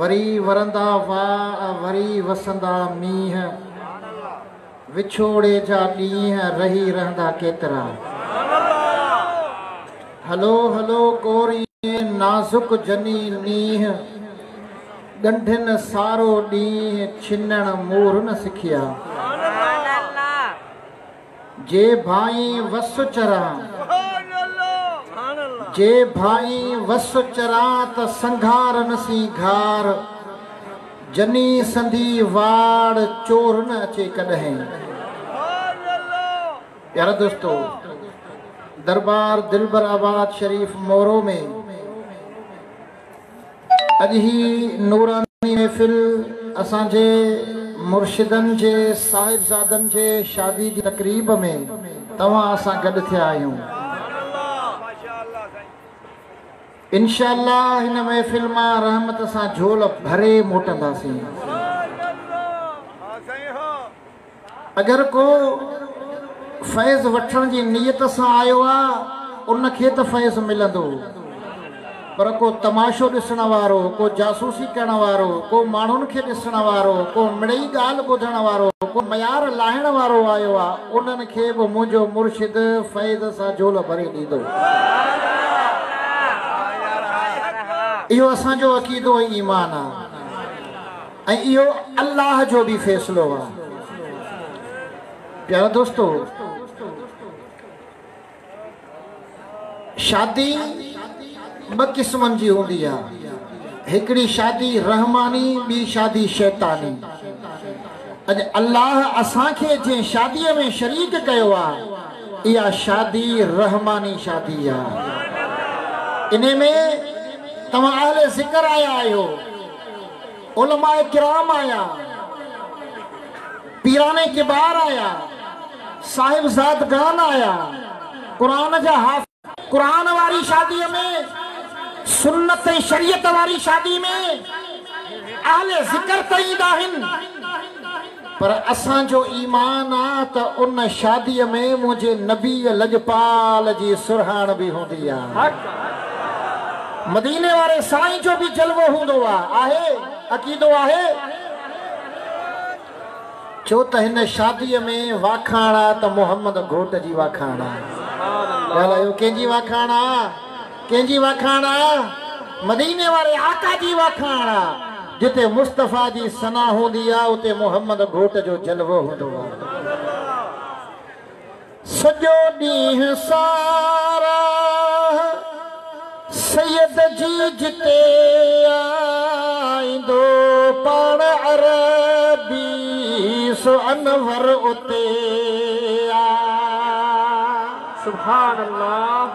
وري ورندا واء وري وسندا مينهن وڇوڙي جا ڏينهن رهي رهندا ڪيترا هلو هلو ڪوري نازڪ جني نينهن ڳنڍين سارو ڏينهن ڇنڻ مورن سکيا جي ڀائين وس چران، جي ڀائين وس چران ته سنگهار نه سين گهار، جني سندي واڙ چور نه اچي ڪڏهين. پيارا دوستو دربار دلبر آباد شريف مورو ۾ اڄ هي نوراني محفل اسان جي مرشدن جي صاحبزادن جي شادي جي تقريب ۾ توهان اسان گڏ ٿيا آهيون انشاء الله هن محفل مان رحمت سان جھول ڀري موٽنداسين اگر ڪو فيض وٺڻ جي نيت سان آيو آ ان کي ته فيض ملندو پر ڪو تماشو ڏسڻ وارو، ڪو جاسوسي ڪرڻ وارو، ڪو ماڻهن کي ڏسڻ وارو، ڪو مڙئي ڳالهه ٻڌڻ وارو، ڪو ميار لاهڻ وارو آيو آ انهن کي به منهنجو مرشد فيض سان جھولو ڀري ڏيندو. اهو اسان جو عقيدو ۽ ايمان آ. ۽ اهو الله جو به فيصلو آ. پيارا دوستو! شادي ٻه قسمن جي هوندي آ. هڪڙي شادي رحماني ٻي شادي شيطاني. اڄ الله اسان کي جنهن شاديء ۾ شريڪ ڪيو آ، اها شادي رحماني شادي آ. انهي ۾ توهان اهل ذڪر آيا آهيو. علماء ڪرام آيا، پيران ڪبار آيا، صاحبزادگان آيا، قرآن جا حافظ. قرآن واري شاديء ۾ سنت ۽ شريعت واري شادي ۾ اهل ذڪر ته ايندا آهن. پر اسان جو ايمان آ ته ان شاديء ۾ منهنجي نبيء لڄپال جي سرهاڻ به هوندي آ. مديني واري سائين جو به جلوو هوندو آ، آهي، عقيدو آهي. ڇو ته هن شاديء ۾ واکاڻ آ ته محمد گهوٽ جي واکاڻ آ. ڳالهايو ڪنهن جي واکاڻ آ؟ ڪنهن جي واکاڻ آ؟ مديني واري آقا جي واکاڻ آ. جتي مصطفيٰ جي ثنا هوندي آ اتي محمد گهوٽ جو جلوو هوندو آ. سڄو ڏينهن ساراهه سيد جي جتي آ ايندو پاڻ عربي سو انور اتي آ. سبحان الله.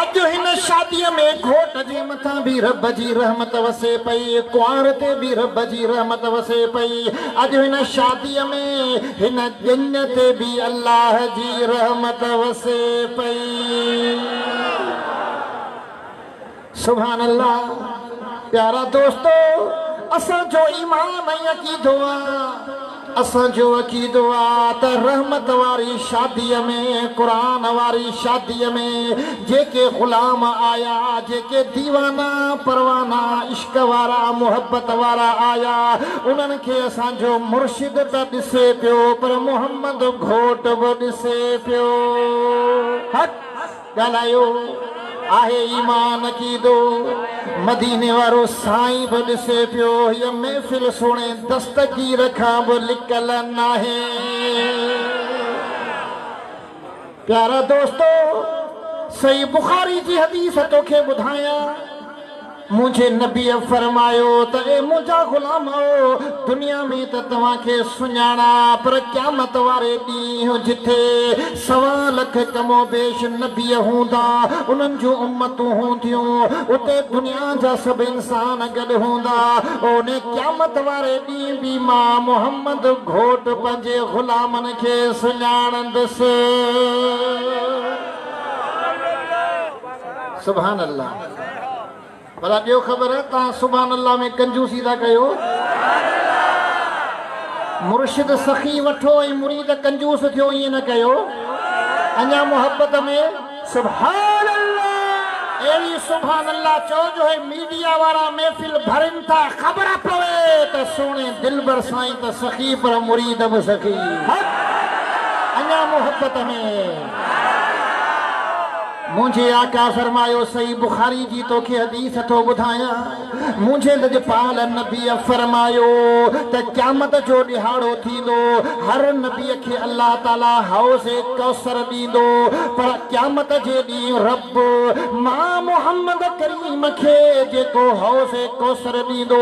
اڄ هن شاديء ۾ گهوٽ جي مٿان به رب جي رحمت وسي پئي، ڪنوار تي به رب جي رحمت وسي پئي. اڄ هن شاديء ۾ هن ڄڃ تي به الله جي رحمت وسي پئي. سبحان الله پيارا دوستو اسان جو ايمان ۽ عقيدو آ اسان جو عقيدو آ ته رحمت واري شادي ۾ قرآن واري شادي ۾ جيڪي غلام آيا جيڪي ديوانا پروانا عشق وارا محبت وارا آيا انهن کي اسان جو مرشد ته ڏسي پيو پر محمد گهوٽ به ڏسي پيو حق ڳالهايو آهي ايمان عقيدو مديني وارو سائين به ڏسي پيو هيء محفل سهڻي دستگير کان به لڪل ناهي پيارا دوستو صحيح بخاري جي حديث توکي ٻڌايان منهنجي نبيء فرمايو ته اي منهنجا غلامؤ! دنيا ۾ ته توهان کي سڃاڻان پر قيامت واري ڏينهن جتي سوا لک ڪم و بيش نبيء هوندا، انهن جون امتون هونديون، اتي دنيا جا سڀ انسان گڏ هوندا، ان قيامت واري ڏينهن به مان محمد گهوٽ پنهنجي غلامن کي سڃاڻندس. سبحان الله ڀلا ڏيو خبر توهان سبحان الله ۾ ڪنجوسي ٿا ڪيو مرشد سخي وٺو ۽ مريد ڪنجوس ٿيو ائين نه ڪيو اڃا محبت ۾ سبحان الله اهڙي سبحان الله چو جو هي ميڊيا وارا محفل ڀرين ٿا خبر پوي ته سهڻي دلبر سائين ته سخي پر مريد به سخي اڃا محبت ۾ منهنجي آقا فرمايو صحيح بخاري جي توکي حديث ٿو ٻڌايان منهنجي لڄپال نبيء فرمايو ته قيامت جو ڏهاڙو ٿيندو هر نبيء کي الله تعالي حوض ڪوثر ڏيندو پر قيامت جي ڏينهن رب پوء مان محمد ڪريم کي جيڪو حوض ڪوثر ڏيندو،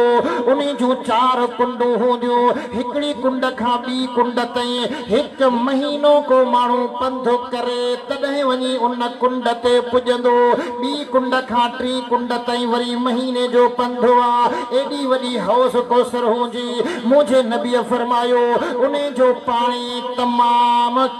انهي جون چار ڪنڊون هونديون، هڪڙي ڪنڊ کان ٻي ڪنڊ تائين هڪ مهينو ڪو ماڻهو پنڌ ڪري تڏهن وڃي ان ڪنڊ تي پڄندو، ٻي ڪنڊ کان ٽي ڪنڊ تائين وري مهيني جو پنڌ آ، ايڏي وڏي حوض ڪوثر هوندي، منهنجي نبيء فرمايو، انهي جو پاڻي تمام.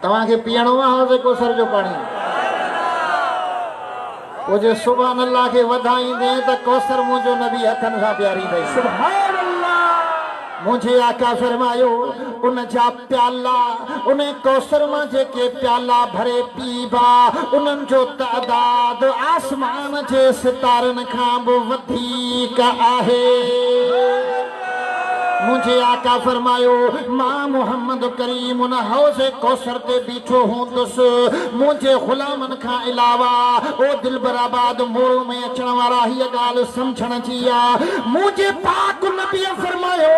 توهان کي پيئڻو آ حوض ڪوثر جو پاڻي؟ پوء جي سبحان الله کي وڌائيندين ته ڪوثر منهنجو نبي هٿن سان پياريندئي. سبحان الله! منهنجي آقا فرمايو، ان جا پيالا، انهي ڪوثر مان جيڪي پيالا ڀري پيئبا، انهن جو تعداد آسمان جي ستارن کان به وڌيڪ آهي. منهنجي آقا فرمايو، مان محمد ڪريم ان حوض ڪوثر تي بيٺو هوندس، منهنجي غلامن کان علاوه او دلبر آباد مورو ۾ اچڻ وارا هيء ڳالهه سمجهڻ جي آ. منهنجي پاڪ نبيء فرمايو،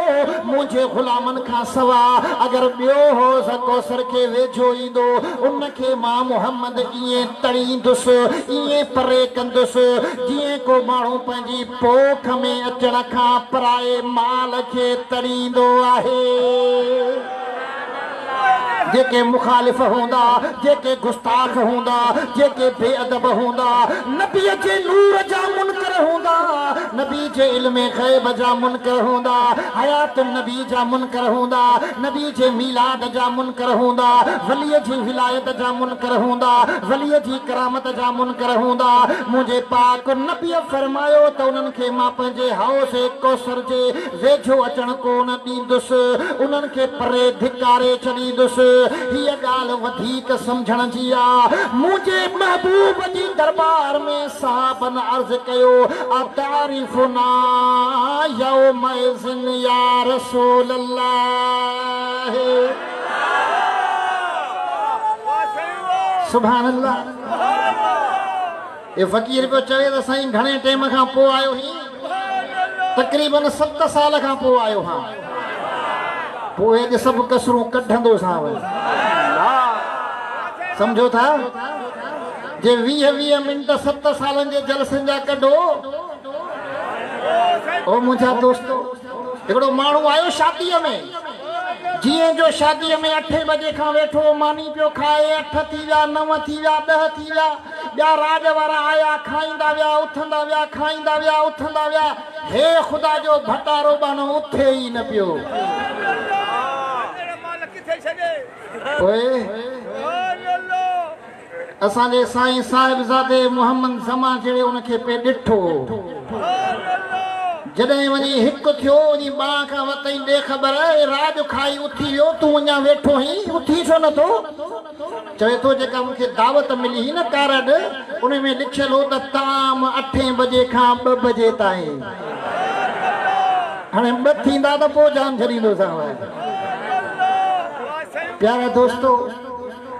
منهنجي غلامن کان سوا اگر ٻيو حوض ڪوثر کي ويجهو ايندو، ان کي مان محمد ائين تڙيندس، ائين پري ڪندس، جيئن ڪو ماڻهو ڪي پوک ۾ اچڻ کان پرائي مال کي تڙيندو آهي. جيڪي مخالف هوندا، جيڪي گستاخ هوندا، جيڪي بي ادب هوندا، نبيء جي نور جا منڪر هوندا، نبي جي علم غيب جا منڪر هوندا، حيات النبي جا منڪر هوندا، نبي جي ميلاد جا منڪر هوندا، وليء جي ولايت جا منڪر هوندا، وليء جي ڪرامت جا منڪر هوندا، منهنجي پاڪ نبيء فرمايو ته انهن کي مان پنهنجي حوض ڪوثر جي ويجهو اچڻ ڪونه ڏيندس، انهن کي پري ڌڪاري ڇڏيندس. هيء ڳالهه وڌيڪ سمجهڻ جي آ. منهنجي محبوب جي درٻار ۾ صحابن عرض ڪيو، اتعرفنا يومئذ يا رسول الله! سبحان الله اي فقير پيو چوي ته سائين گھڻي ٽيم کان پو آيو هي تقريبا 7 سال کان پو آيو ها پو اڄ سڀ کسرون ڪڍندو سان وي سمجھو ٿا جي 20 20 منٽ 7 سالن جي جلسن جا ڪڍو او منھنجا دوستو هڪڙو ماڻهو آيو شاديء ۾، جيئن جو شاديء ۾ اٺين بجي کان ويٺو، ماني پيو کائي، اٺ ٿي ويا، نو ٿي ويا، ڏهه ٿي ويا، ٻيا راڄ وارا آيا، کائيندا ويا، اٿندا ويا، کائيندا ويا، اٿندا ويا، هي خدا جو ڀٽارو ٻانهو اٿي ئي نه پيو. پوء. اسان جي سائين صاحبزادي محمد زمان جهڙي ان کي پئي ڏٺو هو. جڏهن وڃي هڪ ٿيو، وڃي ٻان کان وتئين ڏي خبر، اي راڄ کائي اٿي ويو، تون اڃا ويٺو هين، اٿي ڇو نه ٿو؟ چوي ٿو جيڪا مون کي دعوت ملي هئي نه ڪارڊ، ان ۾ لکيل هو ته طعام اٺين بجي کان ٻه بجي تائين. هاڻي ٻه ٿيندا ته پوء جان ڇڏيندوسانء. پيارا دوستو!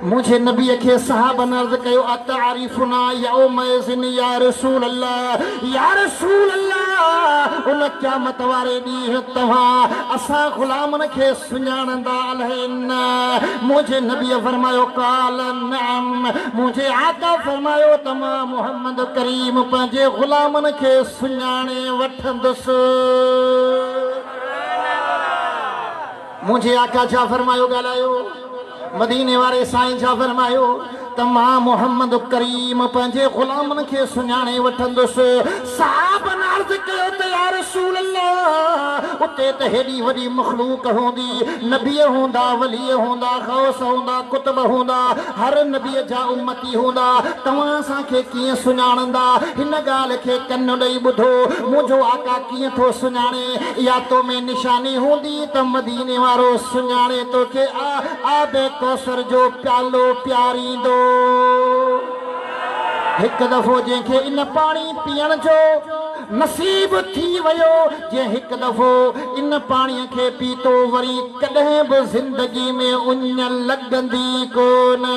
منهنجي نبيء کي صحابن عرض ڪيو، اتعرفنا يومئذ يا رسول الله، يا رسول الله! ان قيامت واري ڏينهن توهان اسان غلامن کي سڃاڻندا الائي نه؟ منهنجي نبيء فرمايو، قال نعم! منهنجي آقا فرمايو ته مان محمد ڪريم پنهنجي غلامن کي سڃاڻي وٺندس. منهنجي آقا ڇا فرمايو ڳالهايو، مديني واري سائين ڇا فرمايو ته مان محمد ڪريم پنهنجي غلامن کي سڃاڻي وٺندس. صحابن عرض ڪيو ته يارسول الله اتي ته هيڏي وڏي مخلوق هوندي، نبي هوندا، ولي هوندا، غوث هوندا، قطب هوندا، هر نبي جا امتي هوندا، توهان اسان کي ڪيئن سڃاڻندا، هن ڳالهه کي ڪن ڏئي ٻڌو، منهنجو آقا، ڪيئن ٿو سڃاڻي اها تو ۾ نشاني هوندي ته مديني وارو سڃاڻي توکي آء آب ڪوثر جو پيالو پياريندو هڪ دفعو جنهن کي ان پاڻي پيئڻ جو نصيب ٿي ويو جنهن هڪ دفعو ان پاڻي کي پيتو وري ڪڏهن به زندگي ۾ اڃ لڳندي ڪونه.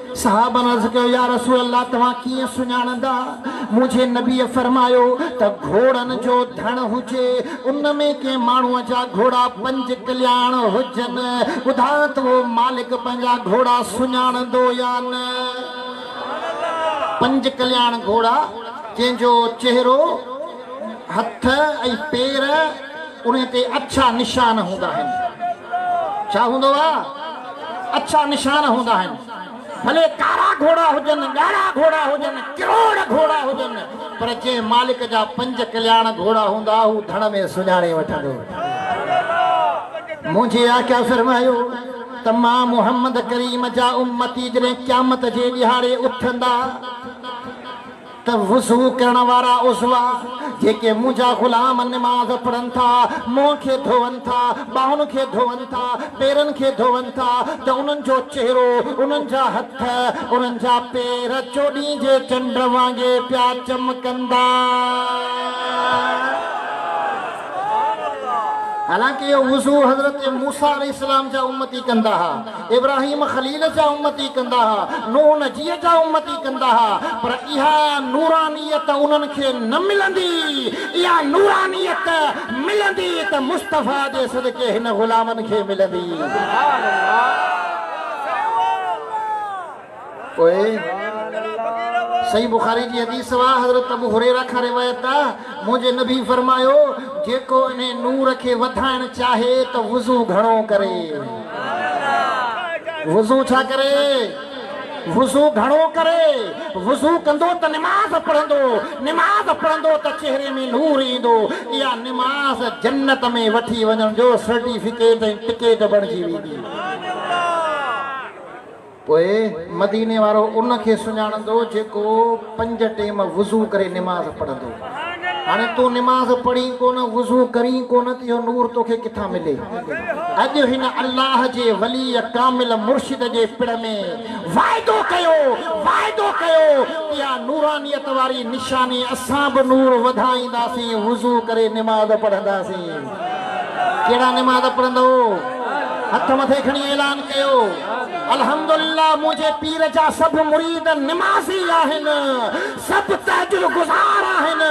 صحابن عرض ڪيو، يا رسول الله توهان ڪيئن سڃاڻندا؟ منهنجي نبيء فرمايو ته گهوڙن جو ڌڻ هجي، ان ۾ ڪنهن ماڻهوء جا گهوڙا پنج ڪلياڻ هجن، ٻڌاء ته اهو مالڪ پنهنجا گهوڙا سڃاڻندو يا نه؟ پنج ڪلياڻ گهوڙا، جنهن جو چهرو. هٿ ۽ پير انهي تي اڇا نشان هوندا آهن ڇا هوندو آ اڇا نشان هوندا آهن ڀلي ڪارا گهوڙا هجن ڳاڙها گهوڙا هجن ڪروڙ گهوڙا هجن پر جي مالڪ جا پنج ڪلياڻ گهوڙا هوندا هو ڌڻ ۾ سڃاڻي وٺندو منهنجي آقا فرمايو ته مان محمد ڪريم جا امتي جڏهن قيامت جي ڏهاڙي اٿندا ته وضو ڪرڻ وارا عضو جيڪي منهنجا غلام نماز پڙهن ٿا، منهن کي ڌوئن ٿا، ٻانهن کي ڌوئن ٿا، پيرن کي ڌوئن ٿا ته انهن جو چهرو، انهن جا هٿ، انهن جا پير چوڏهين جي چنڊ وانگي پيا چمڪندا. حالانڪ اهو وضو حضرت موسيٰ عليه السلام جا امتي ڪندا ها. ابراهيم خليل جا امتي ڪندا ها، نوح نجيء جا امتي ڪندا ها، پر اها نورانيت انهن کي نه ملندي، اها نورانيت ملندي ته مصطفيٰ جي صدقي هن غلامن کي ملندي. پوء صحيح بخاري جي حديث سوا حضرت ابو هريره کان روايت ته منهنجي نبي فرمايو، جيڪو انهي نور کي وڌائڻ چاهي ته وضو گهڻو ڪري. وضو ڇا ڪري؟ وضو گهڻو ڪري. وضو ڪندو ته نماز پڙهندو. نماز پڙهندو ته چهري ۾ نور ايندو. اها نماز جنت ۾ وٺي وڃڻ جو سرٽيفڪيٽ ۽ ٽڪيٽ بڻجي ويندي. پوء مديني وارو ان کي سڃاڻندو جيڪو پنج ٽيم وضو ڪري نماز پڙهندو. هاڻي تون نماز پڙهين ڪونه، وضو ڪرين ڪونه ته اهو نور توکي ڪٿان ملي. اڄ هن الله جي ولي ڪامل مرشد جي پڙ ۾ واعدو ڪيو، واعدو ڪيو ته اها نورانيت واري نشاني اسان به نور وڌائينداسين، وضو ڪري نماز پڙهنداسين. ڪهڙا نماز پڙهندؤ؟ هٿ مٿي کڻي اعلان ڪيو. الحمدلله منهنجي پير جا سڀ مريد نمازي آهن، سڀ تهجد گذار آهن،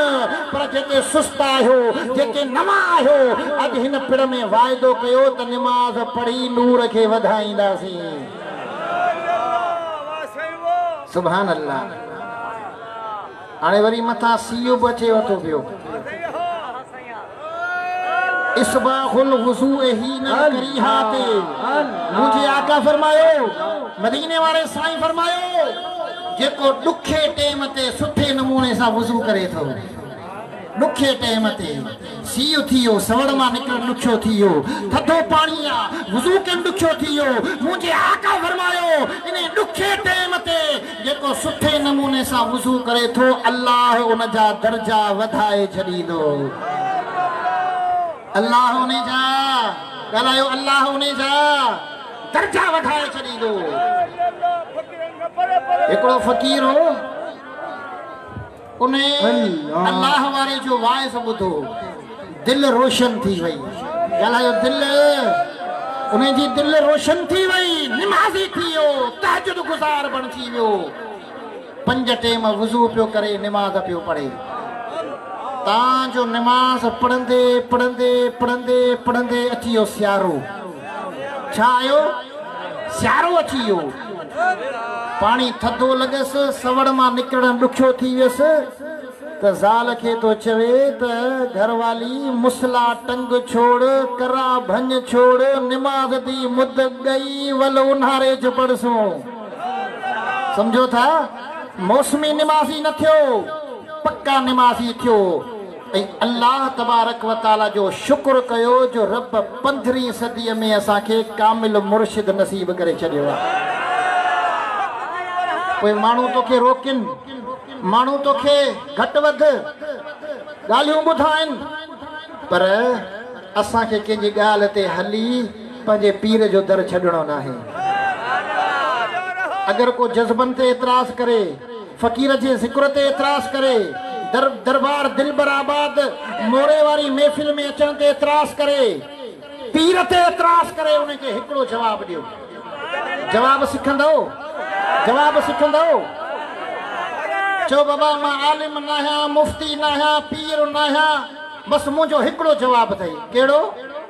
پر جيڪي سست آهيو، جيڪي نوان آهيو، اڄ هن پڙ ۾ واعدو ڪيو ته نماز پڙهي نور کي وڌائينداسين. سبحان الله. هاڻي وري مٿان سي يو به اچي ورتو پيو. اصباغ الوضوء حين الڪريهه تي منهنجي آقا فرمايو، مديني واري سائين فرمايو، جيڪو ڏکي ٽيم تي سٺي نموني سان وضو ڪري ٿو. ڏکي ٽيم تي سيء ٿي ويو، سوڙ مان نڪرڻ ڏکيو ٿي ويو، ٿڌو پاڻي يا وضو ڪرڻ ڏکيو ٿي ويو، منهنجي آقا فرمايو، انهي ڏکي ٽيم تي جيڪو سٺي نموني سان وضو ڪري ٿو، الله ان جا درجا وڌائي ڇڏيندو. الله انهي جا، ڳالهايو، الله انهي جا درجا وڌائي ڇڏيندو. هڪڙو فقير هو. انهي الله واري جو واعظ ٻڌو دل روشن ٿي وئي ڳالهايو دل انهي جي دل روشن ٿي وئي نمازي ٿي ويو تهجد گذار بڻجي ويو پنج ٽيم وضو پيو ڪري نماز پيو پڙهي تان جو نماز پڙهندي پڙهندي پڙهندي پڙهندي اچي ويو سيارو ڇا آيو سيارو اچي ويو پاڻي ٿڌو لڳس، سوڙ مان نڪرڻ ڏکيو ٿي ويس ته زال کي ٿو چوي ته گهر والي مصلا ٽنگ ڇوڙ، ڪرا ڀڃ ڇوڙ، نماز دي مد ڳئي ول اونهاري چ پڙهسون. سمجهو ٿا موسمي نمازي نه ٿيو، پڪا نمازي ٿيو. ۽ الله تبارڪ و تعالي جو شڪر ڪيو جو رب پندرهين صديء ۾ اسان کي ڪامل مرشد نصيب ڪري ڇڏيو آهي. پوء ماڻهو توکي روڪين، ماڻهو توکي گهٽ وڌ ڳالهيون ٻڌائين، پر اسان کي ڪنهن جي ڳالهه تي هلي پنهنجي پير جو در ڇڏڻو ناهي. اگر ڪو جذبن تي اعتراض ڪري، فقير جي ذڪر تي اعتراض ڪري، در دربار دلبر آباد موري واري محفل ۾ اچڻ تي اعتراض ڪري، پير تي اعتراض ڪري ان کي هڪڙو جواب ڏيو. جواب سکندؤ؟ جواب سکندؤ؟ چئو بابا مان عالم ناهيان، مفتي ناهيان، پير ناهيان، بس منهنجو هڪڙو جواب اٿئي. ڪهڙو؟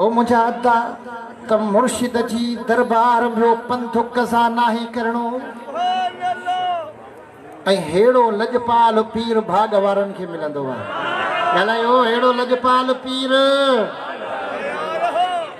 او منهنجا ادا ته مرشد جي دربار ۾ پنڌڪ سان ناهي ڪرڻو ۽ هيڙو لڄپال پير ڀاڳ وارن کي ملندو آهي ڳالهايو هيڙو لڄپال پير